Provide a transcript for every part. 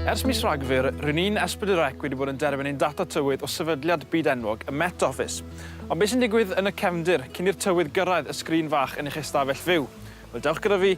Ers mis Rhagfyr, rydyn ni'n Esbydyrec wedi bod yn derbyn ein data tywydd o sefydliad byd enwog y Met Office. Ond beth sy'n digwydd yn y cefndir cyn i'r tywydd gyrraedd y sgrin fach yn eich ystafell fyw? Wel, dewch gyda fi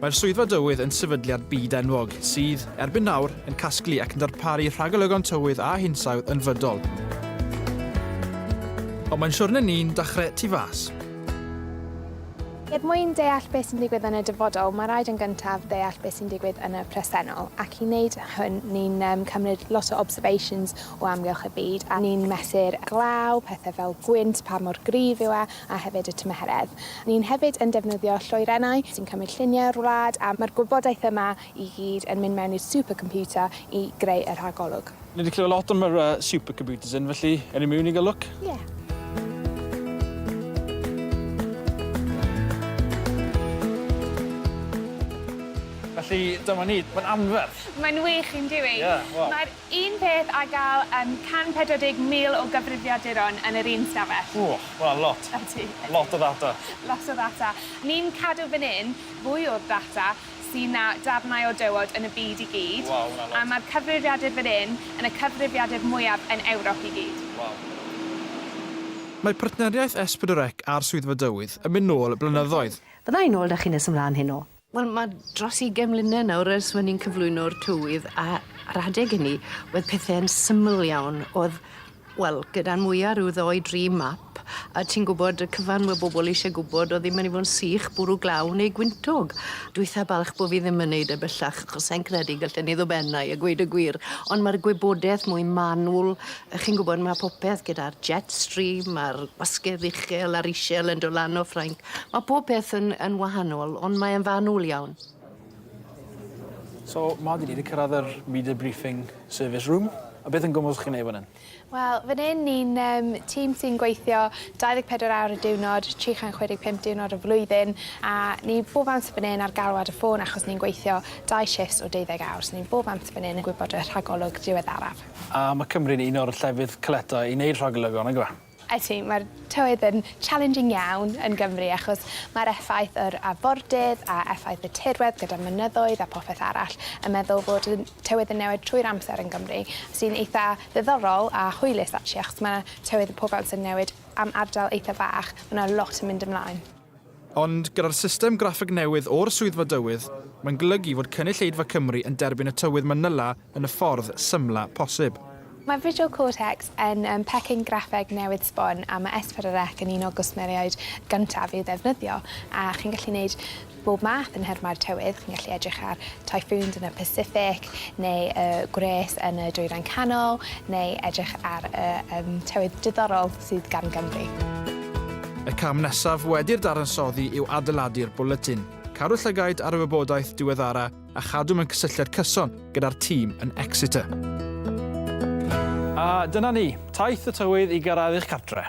Mae'r Swyddfa Dywydd yn sefydliad byd-enwog sydd, erbyn nawr, yn casglu ac yn darparu rhagolygon tywydd a hinsawdd yn fydol. Ond mae'n siwrne ni'n dechrau tu fas. Er mwyn deall beth sy'n digwydd yn y dyfodol, mae rhaid yn gyntaf deall beth sy'n digwydd yn y presennol, ac i wneud hwn, ni'n cymryd lot o observations o amgylch y byd, a ni'n mesur glaw, pethau fel gwynt, pa mor gryf yw e, a hefyd y tymheredd. Ni'n hefyd yn defnyddio lloerennau sy'n cymryd lluniau'r wlad a mae'r gwybodaeth yma i gyd yn mynd mewn i'r supercomputer i greu y rhagolwg. Ni 'di clywed lot am yr yy supercomputers hyn felly ewn ni miwn i ga'l lwc? Ie. Felly dyma ni. Mae'n anferth! Mae'n wych, yndyw i? Ie, wel. Mae'r Un peth a gall yym 140,000 o gyfrifiaduron yn yr un stafell. Ww, wel lot. Ydy, ydy. Lot o ddata. Lot o ddata. Ni'n cadw fan 'yn fwy o'r data sy' na darnau o dywod yn y byd i gyd. Waw, ma' 'na lot. A ma'r cyfrifiadur fan 'yn yn y cyfrifiadur mwyaf yn Ewrop i gyd. Waw. Mae partneriaeth S4C a'r Swyddfa Dywydd yn mynd nôl blynyddoedd. Fydda i nôl 'da chi nes ymlaen heno. Wel, mae dros ugain mlynedd nawr ers fy' ni'n cyflwyno'r tywydd a a'r adeg ynny wedd pethe'n syml iawn o'dd wel gyda'n mwya ryw ddou dri map a ti'n gwbod y cyfan we' bobol isie gwbod o'dd 'im myn' i fo' yn sych bwrw glaw neu gwyntog. Dwi itha balch bo' fi ddim yn neud e bellach achos sai'n credu gallen i ddod ben ai a gweud y gwir ond ma'r gwybodeth mwy manwl yy chi'n gwbod ma' popeth gyda'r jet stream a'r gwasgedd uchel a'r ishel yn do' lan o Ffrainc Mae pob peth yn, yn wahanol, ond mae e'n fanwl iawn. So, ma, dyn ni wedi cyrraedd yr media briefing service room. A beth yn gwmwys chi'n ei fan hyn? Wel, fan hyn ni'n um, tîm sy'n gweithio 24 awr y diwrnod, 365 diwrnod y flwyddyn, a ni bob amser fan hyn ar galwad y ffôn achos ni'n gweithio dau shifts o 12 awr, so ni'n bob amser fan hyn yn gwybod y rhagolwg diweddaraf. A mae Cymru'n un o'r llefydd caletau i wneud rhagolygon, nag yw e? Ydy, mae'r tywydd yn challenging iawn yn Gymru achos mae'r effaith yr afordydd a effaith y tirwedd gyda'r mynyddoedd a popeth arall yn meddwl fod y tywydd yn newid trwy'r amser yn Gymru sy'n eitha ddiddorol a hwylus actually achos mae tywydd y pob amser yn newid am ardal eitha bach, mae 'na lot yn mynd ymlaen. Ond gyda'r system graffeg newydd o'r Swyddfa Dywydd, mae'n golygu fod cynulleidfa Cymru yn derbyn y tywydd Manila yn y ffordd symla posib. Mae Visual Cortex yn pecyn graffeg newydd sbon a mae S4C yn un o gwsmeriaid gyntaf i'w ddefnyddio, a chi'n gallu gwneud bob math yn nhermau'r tywydd, chi'n gallu edrych ar typhoons yn y Pacific, neu y gwres yn y Dwyrain Canol, neu edrych ar y tywydd diddorol. sydd gan Gymru. Y cam nesaf wedi'r dadansoddi yw adeiladu'r bwletin, cadw llygaid ar y wybodaeth diweddara a chadw mewn cysylltiad cyson gyda'r tîm yn Exeter. A dyna ni, taith y tywydd i gyrraedd eich cartre.